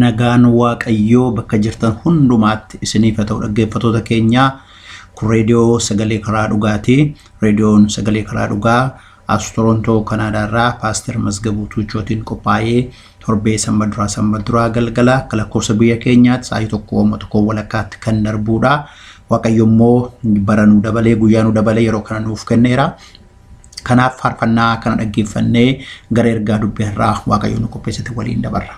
Nagaan Waaqayyoo bakka jirtan hundumaatti isiniif haa ta'u dhaggeeffattoota keenyaa kun reediyoo sagalee karaa dhugaati. Reediyoon sagalee karaa dhugaa As Torontoo Kanaadaa irraa Paaster Mazgabuu Tuuchootiin qophaa'ee torbee sanba duraa sanba duraa galgala akka lakkoofsa biyya keenyaatti sa'aatii tokko amma tokko walakkaatti kan darbuudha. Waaqayyo immoo bara nu dabalee guyyaa nu dabalee yeroo kana nuuf kenneera. Kanaaf faarfannaa kana dhaggeeffannee gara ergaa dubbii har'aa Waaqayyo nu qopheessite waliin dabarra.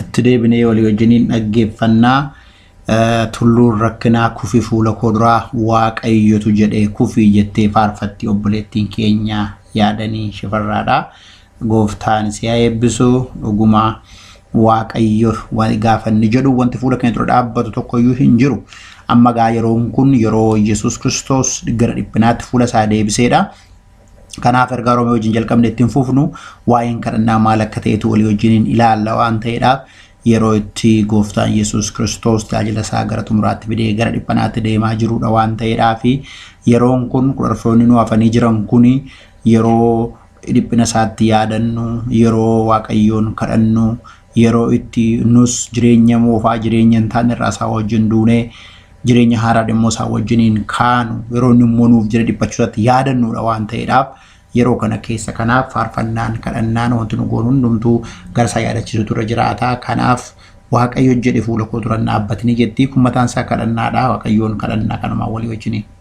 itti deebinee walii wajjiniin dhaggeeffannaa tulluun rakkinaa kufi fuula koo duraa waaqayyotu jedhee kufi jettee faarfatti obboleettiin keenya yaadanii shifarraadha gooftaan si'a eebbisu dhugumaa waaqayyo gaafanni jedhu wanti fuula keenya dura dhaabbatu tokkoyyuu hin jiru amma gaa yeroon kun yeroo yesus kiristoos gara dhiphinaatti fuula isaa deebiseedha Kanaaf ergaa Roomee wajjin jalqabne ittiin fufnu waa'een kadhannaa maal akka ta'etu walii wajjiniin ilaalla waan ta'eedhaaf yeroo itti gooftaan Yesuus Kiristoos tajaajila isaa gara xumuraatti fidee gara dhiphanaatti deemaa jiruudha waan ta'eedhaa fi yeroon kun kudharfoonni nu hafanii jiran kun yeroo dhiphina isaatti yaadannu yeroo waaqayyoon kadhannu yeroo itti nus jireenya moofaa jireenya hin taane irraa isaa wajjin duunee jireenya haaraadha immoo isaa wajjiniin kaanu yeroo inni immoo nuuf jira dhiphachuu isaatti yaadannuudha waan ta'eedhaaf yeroo kana keessa kanaaf faarfannaan kadhannaan wanti nu goonu hundumtuu gara isaa yaadachiisutu irra jiraata kanaaf waaqayyo jedhe fuula koo duran dhaabbatini jettii kun mataan isaa kadhannaadha waaqayyoon kadhannaa kanumaan walii wajjiniin.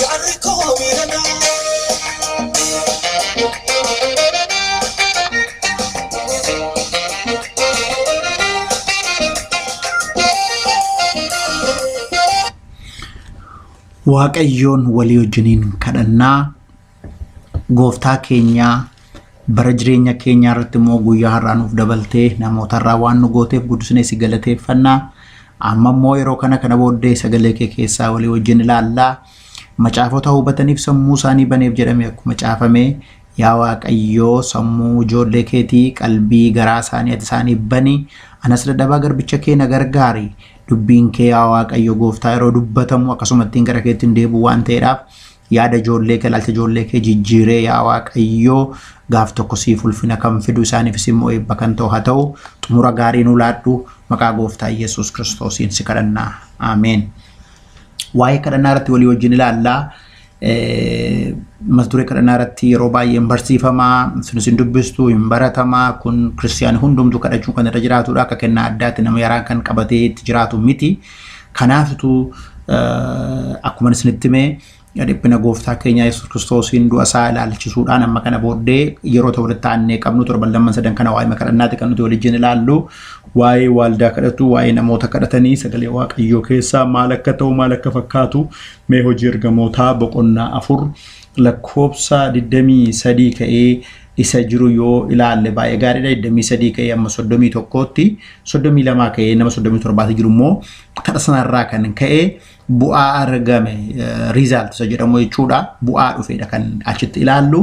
Gaarri koo Waaqayyoon walii wajjiniin kadhannaa. Gooftaa keenyaa bara jireenya keenyaa irratti immoo guyyaa har'aa nuuf dabaltee namoota irraa waan nu gooteef guddisnee si galateeffannaa. Amma immoo yeroo kana kana booddee sagalee kee keessaa walii wajjin ilaallaa. Macaafota hubataniif sammuu isaanii baneef jedhamee akkuma caafame yaa Waaqayyoo sammuu ijoollee keetii qalbii garaa isaanii ati isaaniif bani. Anas dadhabaa garbicha kee na gargaari. Dubbiin kee yaa Waaqayyo gooftaa yeroo dubbatamu akkasumattiin gara keetti hin deebi'u waan ta'eedhaaf Yaada ijoollee kee, ilaalcha ijoollee kee jijjiiree yaa Waaqayyoo gaaf tokko siif ulfina kan fidu isaaniifis immoo eebba kan ta'u haa ta'u xumura gaarii nu laadhu maqaa gooftaa Yesuus Kiristoosiin si kadhanna. Ameen. Waa'ee kadhannaa irratti walii wajjin ilaalla. Eh, Mata duree kadhannaa irratti yeroo baay'ee hin barsiifama, sunis hin dubbistu, hin baratama. Kun kiristiyaani hundumtuu kadhachuun kan irra jiraatudha. Akka kennaa addaatti nama yaraan kan qabatee itti jiraatu miti. Kanaaf utuu akkuman isinitti hime dhiphina gooftaa keenya Yesuus Kiristoosiin du'a isaa ilaalchisuudhaan amma kana booddee yeroo ta'u walitti aannee qabnu torban lamman sadan kana waa'ee kadhannaati kan nuti waliin ilaallu waa'ee waaldaa kadhatu waa'ee namoota kadhatanii sagalee waaqayyoo keessaa maal akka ta'u maal akka fakkaatu mee hojii ergamootaa boqonnaa afur lakkoofsa 23 ka'ee isa jiru yoo ilaalle baay'ee gaariidha. 23 ka'ee amma 31tti 32 ka'ee nama 37tti jiru immoo tapha sanarraa kan ka'e bu'aa argame riizaalt isa jedhamu jechuudha. Bu'aa dhufeedha kan achitti ilaallu.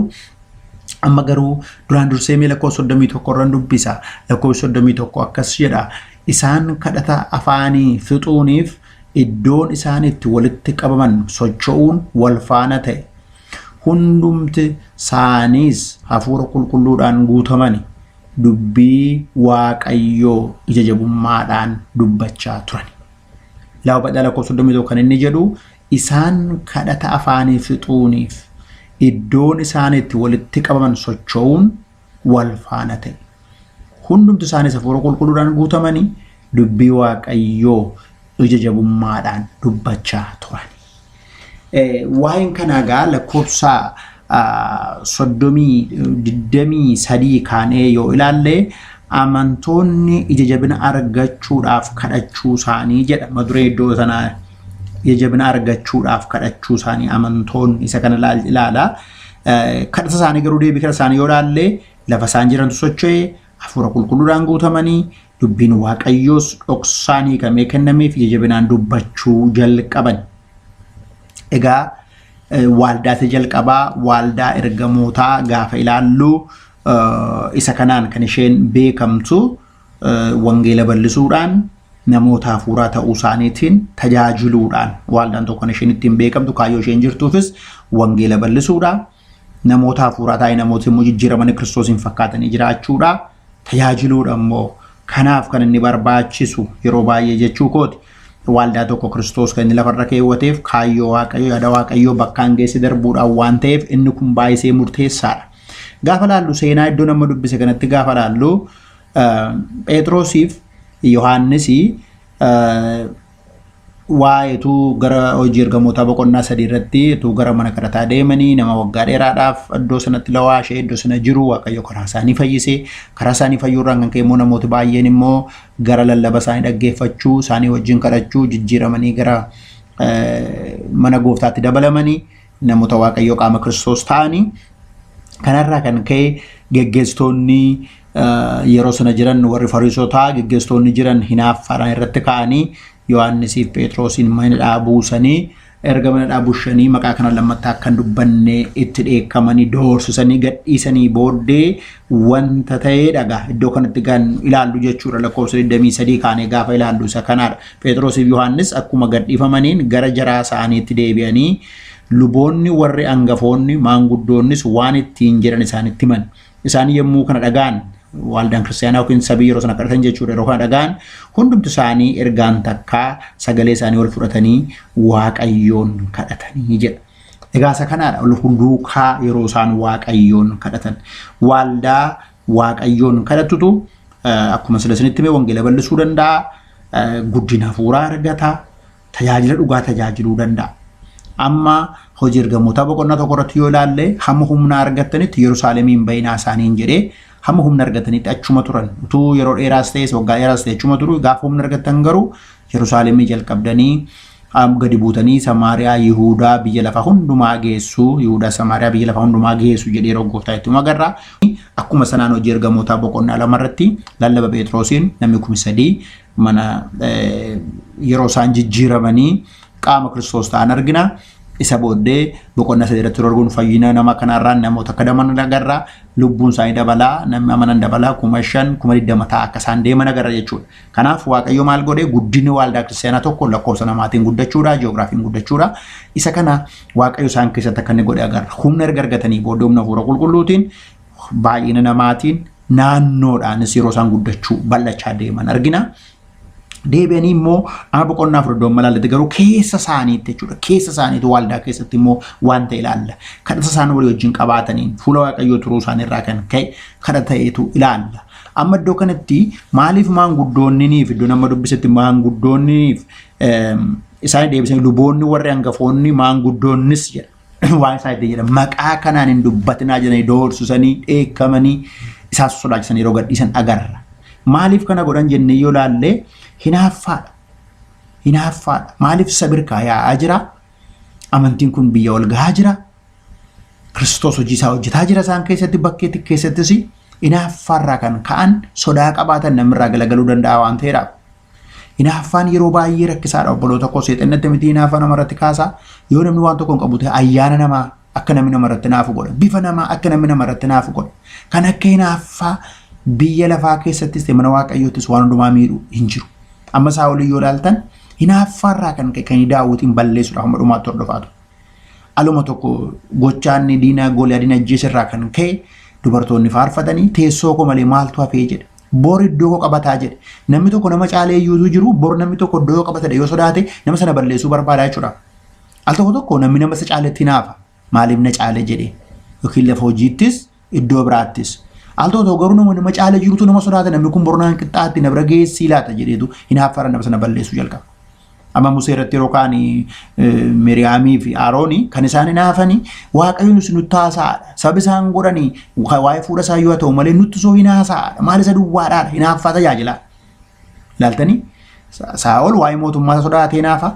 Amma garuu duraan dursee mee lakkoofsa 31 irraan dubbisa. Lakkoofsa 31 akkas jedha. Isaan kadhata afaanii fixuuniif iddoon isaan itti walitti qabaman socho'uun wal faana ta'e. hundumti saaniis hafuura qulqulluudhaan guutamani dubbii waaqayyoo ija jabummaadhaan dubbachaa turan. Lafa badhaa lakkoo 31 kan inni jedhu isaan kadhata afaanii fixuuniif iddoon isaan itti walitti qabaman socho'uun wal faana ta'e. Hundumti isaaniis hafuura qulqulluudhaan guutamanii dubbii waaqayyoo ija jabummaadhaan dubbachaa turan. Waa'een kanaa egaa lakkoofsa soddomii digdamii sadii kaanee yoo ilaalle amantoonni ija jabina argachuudhaaf kadhachuu isaanii jedha mata duree iddoo sanaa ija jabina argachuudhaaf kadhachuu isaanii amantoonni isa kana ilaala. Kadhata isaanii garuu deebii kadhata isaanii yoo ilaalle lafa isaan jirantu socho'e hafuura qulqulluudhaan guutamanii dubbiin waaqayyoos dhoksaan hiikamee kennamee fi jajabinaan dubbachuu jalqaban. Egaa waaldaatti jalqabaa waaldaa ergamootaa gaafa ilaallu isa kanaan kan isheen beekamtu Wangeela bal'isuudhaan namoota hafuuraa ta'uu isaaniitiin tajaajiluudhaan waaldaan tokko kan isheen ittiin beekamtu kaayyoo isheen jirtuufis wangeela bal'isuudha. Namoota hafuuraa taa'ee namoota immoo jijjiiramanii kiristoosiin fakkaatanii jiraachuudha. Tajaajiluudha immoo kanaaf kan inni barbaachisu yeroo baay'ee jechuu kooti. Waaldaa tokko kiristoos kan inni lafarra keewwateef kaayyoo waaqayyoo yaada waaqayyoo bakkaan geesse darbuudhaan waan ta'eef inni kun baay'isee murteessaadha. Gaafa laallu seenaa iddoo nama dubbise kanatti gaafa laallu Pheexroosiif Yohaannis waa'ee utuu gara hojii ergamootaa boqonnaa sadii irratti utuu gara mana kadhataa deemanii nama waggaa dheeraadhaaf iddoo sanatti lawaa ishee iddoo sana jiru waaqayyo karaa isaanii fayyise karaa isaanii fayyuurraan kan ka'e immoo namooti baay'een immoo gara lallaba isaanii dhaggeeffachuu isaanii wajjin kadhachuu jijjiiramanii gara mana gooftaatti dabalamanii Namoota Waaqayyoo qaama Kiristoos ta'anii kanarraa kan ka'e geggeessitoonni yeroo sana jiran warri fariisotaa geggeessitoonni jiran hinaaffaadhaan irratti ka'anii Yohaannisiif Pheexroosiin mana hidhaa buusanii erga mana hidhaa bushanii maqaa kana lammattaa akka hin dubbanne itti dheekkamanii doorsisanii gadhiisanii booddee wanta ta'eedha gaa iddoo kanatti kan ilaallu jechuudha lakkoofsa 23 kaanee gaafa ilaallu isa kanaadha Phexrosiif Yohaannis akkuma gadhiifamaniin gara jaraa isaaniitti deebi'anii luboonni warri angafoonni maanguddoonnis waan ittiin jedhan isaanitti himan isaan yommuu kana dhagaan waldaan kiristaanaa yookiin sabii yeroo sana kadhatan jechuudha yeroo kana dhagaan hundumti isaanii ergaan takkaa sagalee isaanii wal fudhatanii waaqayyoon kadhatanii jedha. Egaa isa kanaadha ol duukaa yeroo isaan waaqayyoon kadhatan. Waaldaa waaqayyoon kadhatutu eh, akkuma sila isinitti mee wangeela bal'isuu danda'a, eh, guddina hafuuraa argata, tajaajila dhugaa tajaajiluu danda'a. Amma hojii ergamootaa boqonnaa tokko irratti yoo ilaalle hamma humna argattanitti Yerusaalemiin bayinaa isaaniin jedhee hamma humna argatanitti achuma turan. Utuu yeroo dheeraas ta'es waggaa dheeraas ta'e achuma turu gaafa humna argattan garuu Yerusaalemii jalqabdanii Am gadi buutanii Samaariyaa, Yihuudaa, biyya lafa hundumaa geessu, Yihuudaa, Samaariyaa, biyya lafa hundumaa geessu jedhee yeroo gooftaa itti agarra. Akkuma sanaan hojii ergamootaa boqonnaa lama irratti lallaba Pheexroosiin namni kumi sadii mana yeroo isaan jijjiiramanii qaama Kiristoos ta'an argina. Isa booddee boqonnaa sadii irratti dorgoon fayyina nama kanarraa namoota akka daman agarra. Lubbuun isaanii dabalaa, namni amanan dabalaa, kuma shan, kuma digdama ta'a akka isaan deeman agarra jechuudha. Kanaaf Waaqayyo maal godhe guddinni waaldaa kiristaanaa tokko lakkoofsa namaatiin guddachuudha, ji'oogiraafiin guddachuudha. Isa kana Waaqayyo isaan keessatti akka inni godhe agarra. Humna erga argatanii booddee humna hafuura qulqulluutiin baay'ina namaatiin naannoodhaanis yeroo isaan guddachuu bal'achaa deeman argina. Deebi'anii immoo amma boqonnaa afur iddoon malaalatti garuu keessa isaaniitti jechuudha. Keessa isaaniitti waaldaa keessatti immoo wanta ilaalla. Kadhata isaan walii wajjin qabaataniin fuula Waaqayyoo turuu isaaniirraa kan ka'e kadhata ta'etu ilaalla. Amma iddoo kanatti maaliif maanguddoonnii fi iddoo nama dubbisetti maanguddoonniif isaan deebisanii luboonni warri hangafoonni maanguddoonnis jedha waan isaan itti jedhan maqaa kanaan hin dubbatinaa jedhanii doorsisanii dheekkamanii isaan sodaachisanii yeroo gadhiisan agarra. Maaliif kana godhan jennee yoo laalle hinaaffaadha. Hinaaffaadha. Maaliif sabirkaa yaa'aa jira? Amantiin kun biyya ol gahaa jira. Kiristoos hojii isaa hojjetaa jira isaan keessatti bakkeetti keessattis inaaffaarraa kan ka'an sodaa qabaatan namirraa galagaluu danda'a waan ta'eedha. Inaaffaan yeroo baay'ee rakkisaadha obboloota koo seexannatti miti inaaffaa namarratti kaasaa yoo namni waan tokko hin qabu ta'e ayyaana namaa akka namni namarratti naafu godha bifa namaa akka namni namarratti naafu godha kan akka inaaffaa biyya lafaa keessattis ta'e mana waaqayyoottis waan hundumaa miidhu hin jiru. Amma isaa olii yoo ilaaltan inaaffaarraa kan ka'e kan daawwatiin balleessuudha hamma dhumaatti hordofaa ture. Aluma tokko gochaan diinaa Gooliyaadiin ajjeese irraa kan ka'e dubartoonni faarfatanii teessoo koo malee maaltu hafee jedhe. Bor iddoo koo qabataa jedhe. Namni tokko nama caalee iyyuutu jiru bor namni tokko iddoo yoo qabatadhe yoo sodaate nama sana balleessuu barbaadaa jechuudha. Al tokko tokko namni nama isa caaletti hinaafa maaliif na caale jedhe yookiin lafa hojiittis Iddoo biraattis. Al tokko garuu nama nama caala jirutu nama sodaata namni kun bornaan qixxaatti na bira geessii laata jedheetu hinaaffara nama sana balleessuu jalqaba. Amma Musee irratti yeroo kaan Miriyaamii fi Aarooni kan isaan hinaafani waaqayyoon isin nutti haasa'aadha. Sabi isaan godhani waa'ee fuudha isaa yoo ta'u malee nutti soo hin haasa'aadha. Maal isa duwwaadhaadha hinaaffaa tajaajilaa. Laaltanii Saa'ol waa'ee mootummaa sodaatee hinaafa.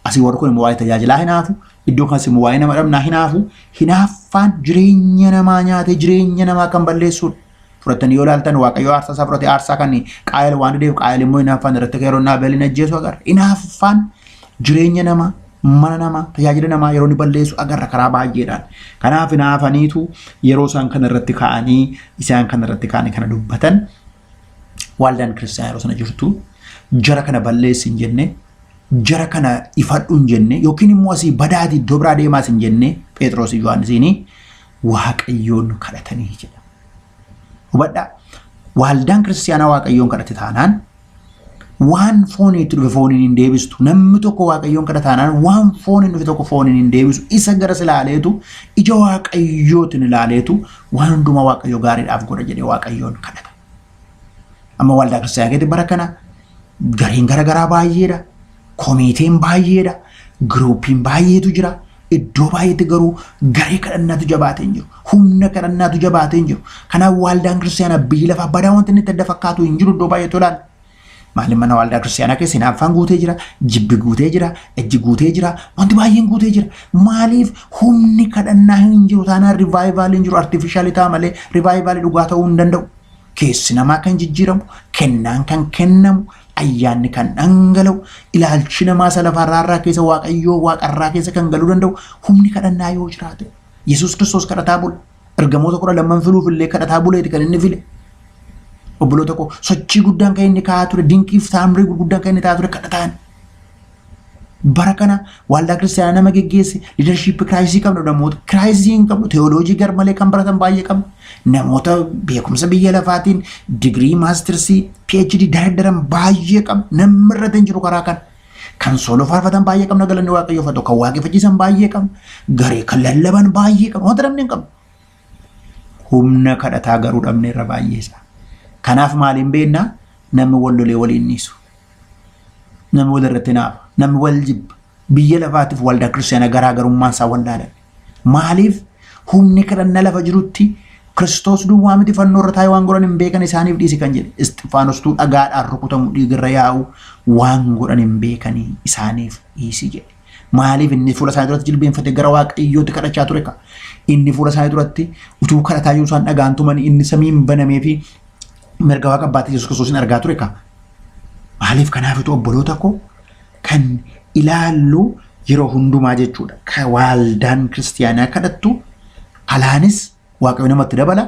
Asii warri kun immoo waa'ee tajaajilaa hinaafu, iddoo kanas immoo waa'ee nama dhabnaa hinaafu. Hinaaffaan jireenya namaa nyaatee jireenya namaa kan balleessuudha. Fudhattanii yoo ilaaltan Waaqayyo aarsaa isaa fudhate aarsaa kan qaayil waan dideef qaayil immoo hinaaffaan irratti yeroo naa beelin ajjeesu agarra. Hinaaffaan jireenya namaa mana namaa tajaajila namaa yeroo ni balleessu agarra karaa baay'eedhaan. Kanaaf hinaafaniitu yeroo isaan kana irratti ka'anii isaan kana irratti ka'anii kana dubbatan Waaldaan kiristaanaa yeroo sana jirtu jara kana balleessi hin jenne, jara kana ifadhu hin jenne, yookiin immoo asii badaati iddoo biraa deemaas hin jenne Pheexroosii fi Yohaannisiin Waaqayyoon kadhatanii jedha. Hubadhaa waaldaan kiristaanaa Waaqayyoon kadhate taanaan Waan foonii itti dhufe fooniin hin deebistu. Namni tokko waaqayyoon kadha taanaan waan fooniin dhufe tokko fooniin hin deebisu. Isa garas ilaaleetu ija waaqayyootiin ilaaleetu waan hundumaa waaqayyo gaariidhaaf godha jedhee waaqayyoon kadhata. Amma waldaa kiristaanaa keessatti bara kana gareen gara garaa baay'eedha. Komiiteen baay'eedha. Giruupiin baay'eetu jira. Iddoo baay'eetti garuu garee kadhannaatu jabaatee hin jiru. Humna kadhannaatu jabaatee hin jiru. Kanaaf waaldaan kiristaanaa biyyi lafaa badaa wanti inni itti adda fakkaatu hin jiru iddoo baay'eetu ilaala. Maaliif mana waaldaa kiristaanaa keessa hinaaffaan guutee jira, jibbi guutee jira, ejji guutee jira, wanti baay'een guutee jira. Maaliif humni kadhannaa hin jiru taanaan rivaayivaaliin hin jiru artiifishaalii ta'a malee rivaayivaalii dhugaa ta'uu hin danda'u. Keessi namaa kan jijjiiramu, kennaan kan kennamu, Ayyaanni kan dhangala'u ilaalchi namaa isa lafarraa irraa keessa waaqayyoo waaqarraa keessa kan galuu danda'u humni kadhannaa yoo jiraate. Yesuus Kiristoos kadhataa bule. Ergamoota kudha lamman filuuf illee kadhataa buleeti kan inni file. Obboloota koo sochii guddaan kan inni kaa'aa ture dinqiif taamrii gurguddaan kan inni taa'aa ture kadhataan. Bara kana waaldaa kiristaanaa nama geggeesse liidarshiippi kiraayisii qabna namoota kiraayisii hin qabnu teewooloojii garmalee kan baratan baay'ee qabna namoota beekumsa biyya lafaatiin digirii maastirsii PhD dardaran baay'ee qabna namni irratti hin jiru karaa kana. Kan sooloo faarfatan baay'ee qabna galanni waaqayyoo fatu kan waaqeffachiisan baay'ee qabna garee kan lallaban baay'ee qabna wanta namni hin qabnu. Humna kadhataa garuu dhabneerra baay'ee isaa. Kanaaf maaliin beekna namni wal lolee waliin dhiisu. Namni wal irratti naafa. Namni wal jibba. Biyya lafaatiif waldaa kiristaanaa garaa garummaan isaa wallaalan. Maaliif humni kadhannaa lafa jirutti Kiristoos duwwaa miti fannoo irra taa'ee waan godhan hin beekan isaaniif dhiisi kan jedhe. Isxifaanostuu dhagaadhaan rukutamu dhiigarra yaa'u waan godhan hin beekanii isaaniif dhiisi jedhe. Maaliif inni fuula isaanii duratti jilbeenfatee gara waaqayyootti kadhachaa ture ka? Inni fuula isaanii duratti utuu kadhataa jiru isaan dhagaan tumanii inni samiin banamee fi mirga waaqa abbaatti Yesuus Kiristoosiin argaa ture ka? Maaliif kanaafitu obboloota koo kan ilaallu yeroo hundumaa jechuudha. Ka waaldaan kiristiyaanaa kadhattu alaanis Waaqayyo namatti dabala.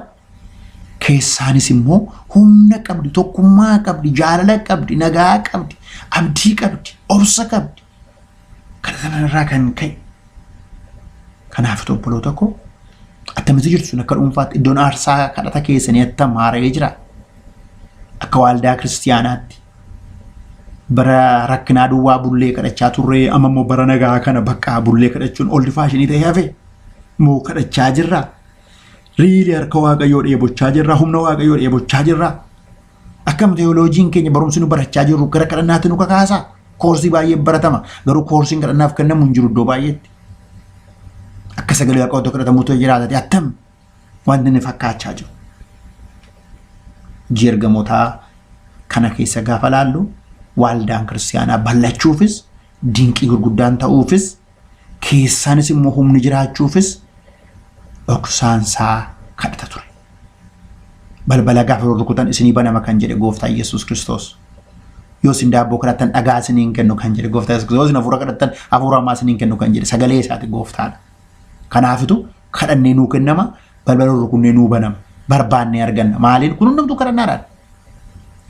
Keessaanis immoo humna qabdi, tokkummaa qabdi, jaalala qabdi, nagaa qabdi, abdii qabdi, obsa qabdi. Kana sanarraa kan ka'e. Kanaaf obboloota koo attamitti jirtu sun akka dhuunfaatti iddoon aarsaa kadhata keessanii attam haara'ee jira. Akka waaldaa kiristiyaanaatti bara rakkinaa duwwaa bullee kadhachaa turre amma immoo bara nagaa kana bakka bullee kadhachuun oldi faashinii ta'ee hafe. moo kadhachaa jirra riili harka waaqayyoo dheebochaa jirra humna waaqayyoo dheebochaa jirra akkam teeyooloojiin keenya barumsi nu barachaa jirru gara kadhannaatti nu kakaasa koorsii baay'ee baratama garuu koorsiin kadhannaaf kennamu hin jiru iddoo baay'eetti akka sagalee waaqayyoo kadhatamuutu jiraatati attam wanti inni fakkaachaa jiru hojii ergamootaa kana keessa gaafa laallu waaldaan kiristaanaa bal'achuufis dinqii gurguddaan ta'uufis keessaanis immoo humni jiraachuufis dhoksaan isaa kadhata ture. Balbala gaafa rukutan isinii banama kan jedhe gooftaa Yesuus Kiristoos. Yoo isin daabboo kadhattan dhagaa isiniin kennu kan jedhe gooftaa Yesuus Kiristoos. Yoo isin hafuura kadhattan hafuura hamaa isiniin kennu kan jedhe sagalee isaati gooftaadha. Kanaafitu kadhannee nuu kennama balbala rukunnee nuu banama barbaannee arganna maaliin kun hundumtuu kadhannaadhaan.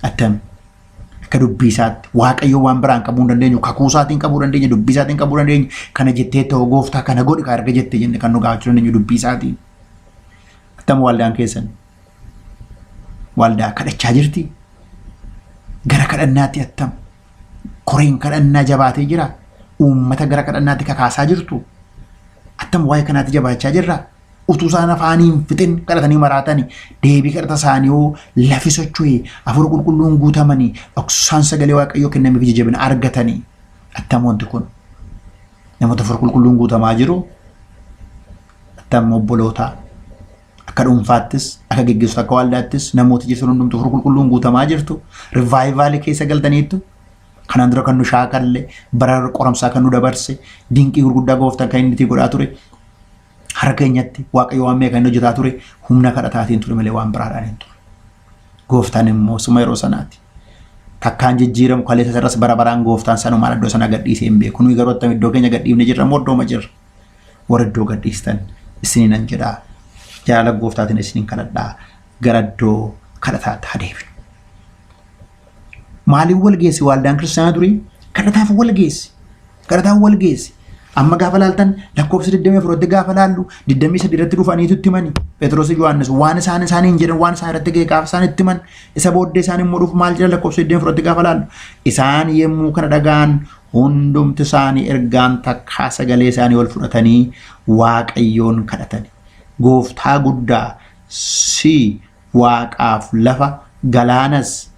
Attam Akka dubbii isaatti waaqayyoo waan biraan qabuu hin dandeenyu kakuu isaatiin qabuu dandeenya dubbii isaatiin qabuu dandeenya kana jettee ta'oo gooftaa kana godhi kaa erga jette jenne kan nu gaafachuu dandeenyu dubbii isaatiin. Attam waldaan keessan waldaa kadhachaa jirti gara kadhannaatti attam koreen kadhannaa jabaatee jira uummata gara kadhannaatti kakaasaa jirtu attam waa'ee kanaatti jabaachaa jirra utuu isaan afaanii hin fixin kadhatanii maraatani deebii kadhata isaanii hoo lafi socho'e hafuura qulqulluun guutamanii dhoksaan sagalee waaqayyoo kennameef ija jabina argatanii attam wanti kun namoota hafuura qulqulluun guutamaa jiru attam obboloota akka dhuunfaattis akka geggeessu akka waaldaattis namoota jirtan hundumtu hafuura qulqulluun guutamaa jirtu rivaayivaalii keessa galtaniittu kanaan dura kan nu shaakalle bara qoramsaa kan nu dabarse dinqii gurguddaa gooftaan kan inni itti godhaa ture Har'a keenyatti Waaqayyo waan meeqa inni hojjetaa ture humna kadhataatiin ture malee waan biraadhaan hin ture. Gooftaan immoo suma yeroo sanaati. Takkaan jijjiiramu kaleessa sarras bara baraan gooftaan sanumaan iddoo sana gadhiisee hin beeku. Nuyi garuu attam iddoo keenya gadhiifne jirra moo iddooma jirra. Warra iddoo gadhiistan isiniin nan jedha. Jaalala gooftaatiin isiniin kadhadhaa gara iddoo kadhataatti haa deebinu. Maaliif wal geessi waaldaan kiristaanaa durii? Kadhataaf wal geessi. Kadhataaf wal geessi. Amma gaafa laaltan lakkoofsa 24 irratti gaafa laallu 23 irratti dhufaniitu itti himani. Phexros Yohaannis waan isaan isaaniin jedhan waan isaan irratti ga'e gaafa isaan itti himan isa booddee isaan immoo dhufu maal jedhan lakkoofsa 24 irratti gaafa laallu. Isaan yommuu kana dhaga'an hundumti isaanii ergaan takkaa sagalee isaanii ol fudhatanii waaqayyoon kadhatani. Gooftaa guddaa si Waaqaaf lafa, galaanas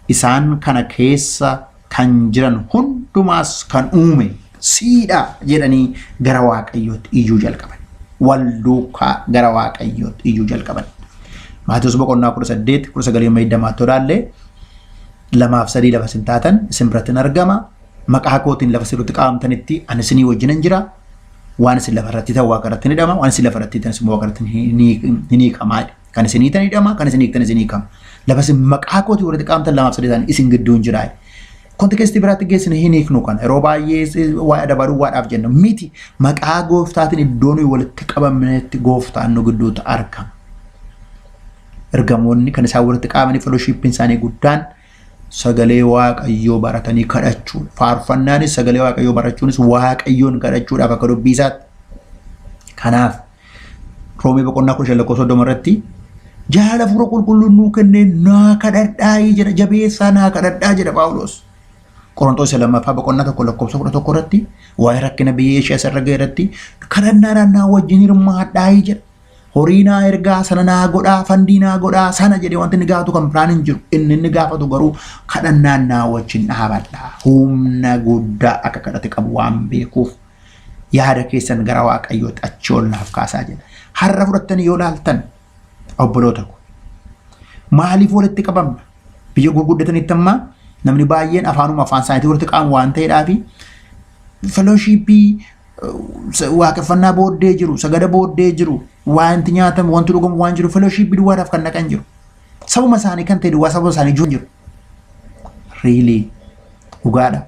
isaan kana keessa kan jiran hundumaas kan uume siidha jedhanii gara Waaqayyootti iyyuu jalqaban. Wal duukaa gara Waaqayyootti iyyuu jalqaban. Maatewos boqonnaa 18 19 too ilaalle lamaaf sadii lafa isin taatan isin biratti hin argama. Maqaa kootiin lafa isin irratti qabamtanitti ani isinii wajjin hin jira. Waan isin lafa irratti ta'u waaqa irratti ni hidhama. Waan isin lafa irratti ta'es immoo waaqa irratti ni- ni- ni hiikama. jedhe. Kan isin hiitan hidhama, kan isin hiiktan isin hiikama. Lafa isin maqaa kootii warri qaamtan lamaaf sadii ta'an isin gidduu hin jiraa. Kontekestii biraatti geessine hin hiiknu kana. Yeroo baay'ee waa'ee adabaa duwwaadhaaf jenna. Miti maqaa gooftaatiin iddoo nuyi walitti qabamnetti gooftaan nu gidduutti argama. Ergamoonni kan isaan walitti qabamanii felooshiippiin isaanii guddaan sagalee waaqayyoo baratanii kadhachuudha. Faarfannaanis sagalee waaqayyoo barachuunis waaqayyoon kadhachuudhaaf akka dubbii isaatti. Kanaaf Roomee boqonnaa kudha shan lakkoofsa soddoma irratti jaalala hafuura qulqulluun nuu kennee naa kadhadhaayii jedha jabeessaa naa kadhadhaa jedha Phaawulos. Qorontoos isa lammaffaa boqonnaa tokko lakkoofsa kudha tokko irratti waa'ee rakkina biyya Eeshiyaa isa irra ga'e irratti kadhannaadhaan naa wajjin hirmaadhaayii jedha. Horii naa ergaa sana naa godhaa fandii naa godhaa sana jedhee wanti inni gaafatu kan biraan hin jiru. Inni inni gaafatu garuu kadhannaan naa wajjin dhaabadha. Humna guddaa akka kadhate qabu waan beekuuf Yaada keessan gara Waaqayyootti achi ol naaf kaasaa jedha. Har'a fudhattanii yoo laaltan obboloota ko. Maaliif walitti qabamna? Biyya gurguddatanitti ammaa namni baay'een afaanuma afaan isaaniitii walitti qabamu waan ta'eedhaa fi felooshiippii waaqeffannaa booddee jiru, sagada booddee jiru, wanti nyaatamu, wanti dhugamu waan jiru felooshiippii duwwaadhaaf kan dhaqan jiru. Sabuma isaanii kan ta'e duwwaa sababa isaanii jiru jiru. Riilii dhugaadha.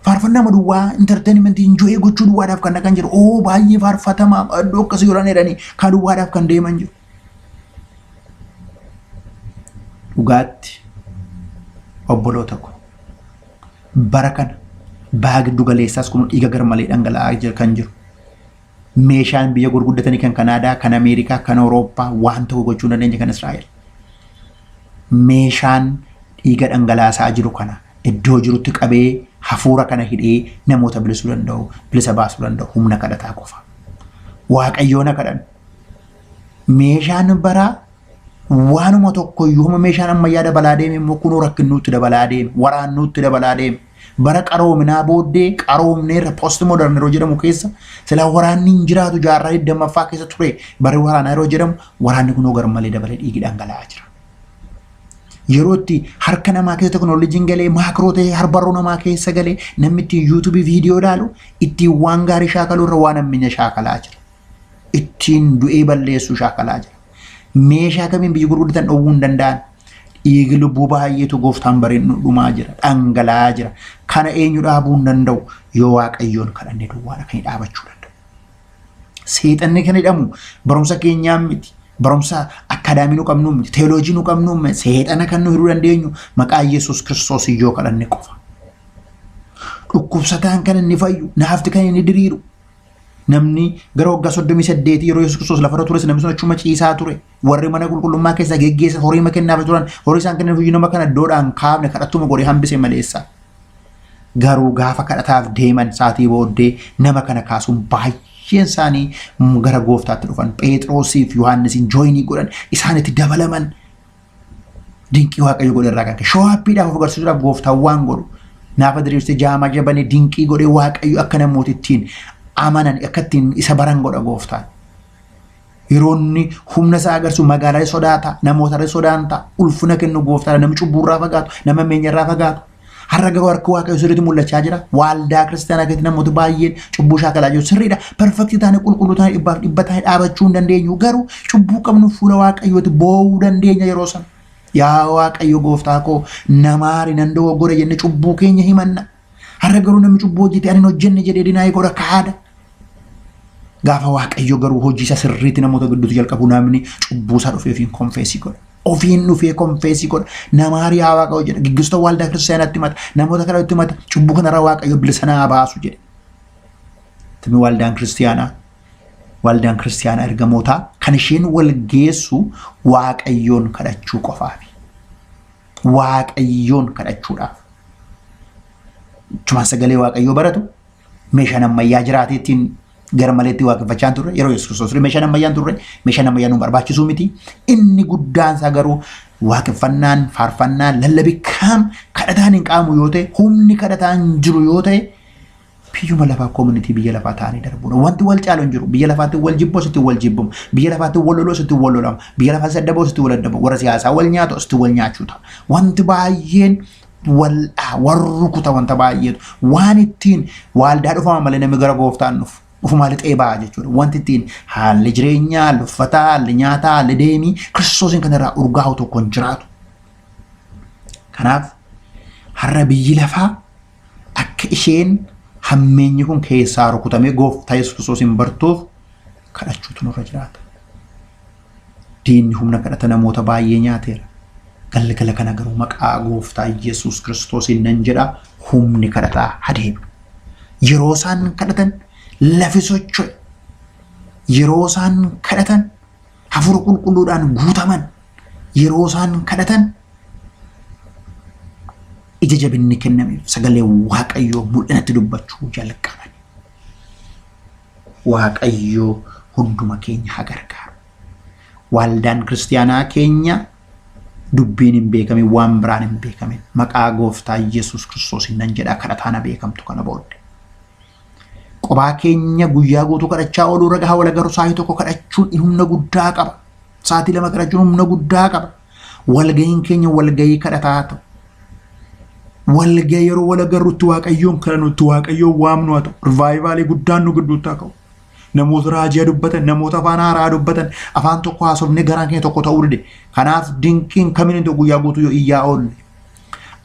faarfannaa duwwaa entertainment enjoy gochuu duwwaadhaaf kan dhaqan jiru. Oo baay'ee faarfatamaa iddoo akkasii yoran jedhanii kaa duwwaadhaaf kan deeman jiru. Dhugaatti obboloota ko bara kana baha giddu galeessaas kun dhiiga garmalee dhangala'aa kan jiru. Meeshaan biyya gurguddatanii kan Kanaadaa, kan Ameerikaa, kan Awurooppaa waan tokko gochuu hin dandeenye kan Israa'el. Meeshaan dhiiga dhangalaasaa jiru kana iddoo jirutti qabee hafuura kana hidhee namoota bilisuu danda'u, bilisa baasuu danda'u humna kadhataa qofa. Waaqayyoon haa kadhannu. Meeshaan baraa waanuma tokkoyyuu hamma meeshaan ammayyaa dabalaa deeme immoo kunoo rakkinnuutti dabalaa deeme, waraannuutti dabalaa deeme. Bara qaroominaa booddee qaroomneerra post modern yeroo jedhamu keessa sila waraanni hin jiraatu jaarraa 20ffaa keessa ture bari waraanaa yeroo jedhamu waraanni kunoo garmalee dabalee dhiigi dhangala'aa jira. Yeroo itti harka namaa keessa teknooloojiin galee maakroo ta'ee harbarroo namaa keessa galee namni ittiin yuutuubii viidiyoo ilaalu ittiin waan gaarii shaakaluu irra waan hammeenya shaakalaa jira. Ittiin du'ee balleessuu shaakalaa jira. Meeshaa kamiin biyyi gurguddatan dhowwuu hin danda'an. Dhiigi lubbuu baay'eetu gooftaan bareen nu dhumaa jira, dhangala'aa jira. Kana eenyu dhaabuu hin danda'u yoo waaqayyoon kadhanne duwwaadha kan dhaabachuu danda'u. Seexanni kan hidhamu barumsa keenyaan miti. Barumsa akkaadaamii nu qabnuu miti. Teeloojii nu qabnuu miti. Seexana kan nu hidhuu dandeenyu maqaa Yesuus Kiristoos yoo kadhanne qofa. Dhukkubsataan kan inni fayyu, naafti kan inni diriiru, Namni gara waggaa 38 yeroo Yesuus Kiristoos lafarra tures namni sun achuma ciisaa ture. Warri mana qulqullummaa keessaa geggeessan horii ma kennaaf turan. Horii isaan kennan hojii nama kana iddoodhaan kaafne kadhattuma godhee hambise maleessa. Garuu gaafa kadhataaf deeman saatii booddee nama kana kaasuun baay'een isaanii gara gooftaatti dhufan. Pheexroosiif Yohaannisiin jooyinii godhan isaanitti dabalaman. Dinqii waaqayyo godhe irraa kan ka'e. Showaappiidhaaf of agarsiisuudhaaf gooftaan waan godhu. Naafa diriirsee jaamaa jabanee dinqii godhee waaqayyo akka namooti ittiin amanan akka ittiin isa baran godha gooftaan. Yeroo inni humna isaa agarsiisu magaalaa sodaata, namoota sodaan ta'a, ulfina kennu gooftaadha, namni cubbuurraa fagaatu, nama meenyarraa fagaatu. Har'a garuu harki waaqayyoo sirriitti mul'achaa jira. Waaldaa kiristaanaa keessatti namoota baay'een cubbuu shaakalaa jiru. Sirriidha. Perfektii taane qulqulluu taane dhibbaaf dhibba taane dhaabachuu hin dandeenyu. Garuu cubbuu qabnu fuula waaqayyooti boo'uu dandeenya yeroo sana. Yaa waaqayyo gooftaa koo namaari nan dogoggore jenne cubbuu keenya himanna. Har'a garuu namni cubbuu hojjete ani hin hojjenne jedhee dinaayii godha kaada. Gaafa waaqayyo garuu hojii isaa sirriitti namoota gidduutti jalqabu namni cubbuu isaa dhufeefiin konfeesii godha. ofiin dhufee konfeesii godha nama hariyaa waaqa hojjedha gaggeessitoota waaldaa kiristaanaatti himata namoota kana itti himata cubbuu kanarra waaqayyo bilisa naa baasu jedhe. Tumi waaldaan kiristaanaa waaldaan kiristaanaa ergamootaa kan isheen wal geessu waaqayyoon kadhachuu qofaafi. Waaqayyoon kadhachuudhaaf. Cumaan sagalee waaqayyoo baratu meeshaan ammayyaa jiraatee ittiin garmaleetti waaqeffachaa hin turre yeroo Yesuus Kiristoos ture meeshaan ammayyaa hin turre meeshaan ammayyaa nu barbaachisuu miti inni guddaan isaa garuu waaqeffannaan faarfannaan lallabi kam kadhataan hin qaamu yoo ta'e humni kadhataa hin jiru yoo ta'e biyyuma lafaa koomunitii biyya lafaa ta'anii darbuudha. Wanti wal caalu hin jiru. Biyya lafaatti wal jibbu asitti wal jibbamu. Biyya lafaatti wal lolu asitti wal lolamu. Biyya lafaatti saddaboo asitti wal addabamu. Warra siyaasaa wal nyaatu asitti wal nyaachuu ta'a. Wanti baay'een wal'aa warra rukuta wanta baay'eetu waan ittiin waaldaa dhufama malee namni gara gooftaan dhufu dhufumaa lixee ba'a jechuudha. Wanti ittiin haalli jireenyaa, haalli uffataa, haalli nyaataa, haalli deemii kiristoosiin kan irraa urgaa'u tokko hin jiraatu. Kanaaf har'a biyyi lafaa akka isheen hammeenyi kun keessaa rukutamee gooftaa Yesuus kiristoosiin bartuuf kadhachuutu nurra jiraata. Diinni humna kadhata namoota baay'ee nyaateera. Galgala kana garuu maqaa gooftaa Yesuus Kiristoosiin nan jedha humni kadhataa hadeebi'u. Yeroo isaan kadhatan lafi socho'e. Yeroo isaan kadhatan hafuura qulqulluudhaan guutaman. Yeroo isaan kadhatan ija jabinni kennameef sagalee waaqayyoo mul'inatti dubbachuu jalqaban. Waaqayyoo hunduma keenya ha gargaaru. Waaldaan kiristiyaanaa keenya dubbiin hin beekamin waan biraan hin beekamin maqaa gooftaa Yesuus kiristoosiin nan jedhaa kadhataa na beekamtu kana boodde. Qobaa keenya guyyaa guutuu kadhachaa ooluu irra gahaa wala garuu sa'aatii tokko kadhachuun humna guddaa qaba. Sa'aatii lama kadhachuun humna guddaa qaba. Walga'iin keenya walga'ii kadhataa haa ta'u. Walga yeroo wal agarrutti waaqayyoon kadhannu itti waaqayyoon waamnu haa ta'u. Rivaayivaalii guddaan nu gidduutti haa ka'u. Namoota raajia dubbatan, namoota afaan haaraa dubbatan, afaan tokko haasofnee garaan keenya tokko ta'uu dide. Kanaaf dinqiin kamiin hin ta'u guyyaa guutuu yoo iyyaa oolle.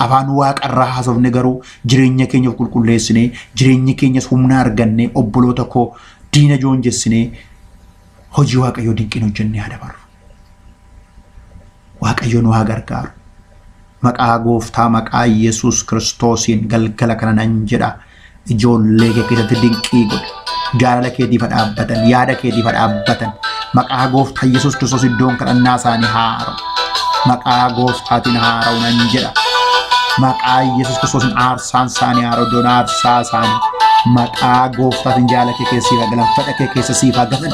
Afaan waaqarraa haasofne garuu jireenya keenya of qulqulleessinee, jireenya keenyas humna argannee, obboloota koo diina joonjessinee hojii waaqayyoo dinqiin hojjennee haa dabarru. Waaqayyo nu haa gargaaru. Maqaa gooftaa maqaa Yesuus Kiristoosiin galgala kana nan jedha. Ijoollee kee keessatti dinqii godhi. Jaalala keetiif haa dhaabbatan, yaada keetiif haa dhaabbatan. Maqaa gooftaa Yesuus Kiristoos iddoon kadhannaa isaanii haara'u. Maqaa gooftaatiin haara'u nan jedha. Maqaa Yesuus Kiristoosiin aarsaan isaanii haara'u iddoon aarsaa isaanii. Maqaa gooftaatiin jaalala kee keessa siif haa galan, fedha kee keessa siif haa galan.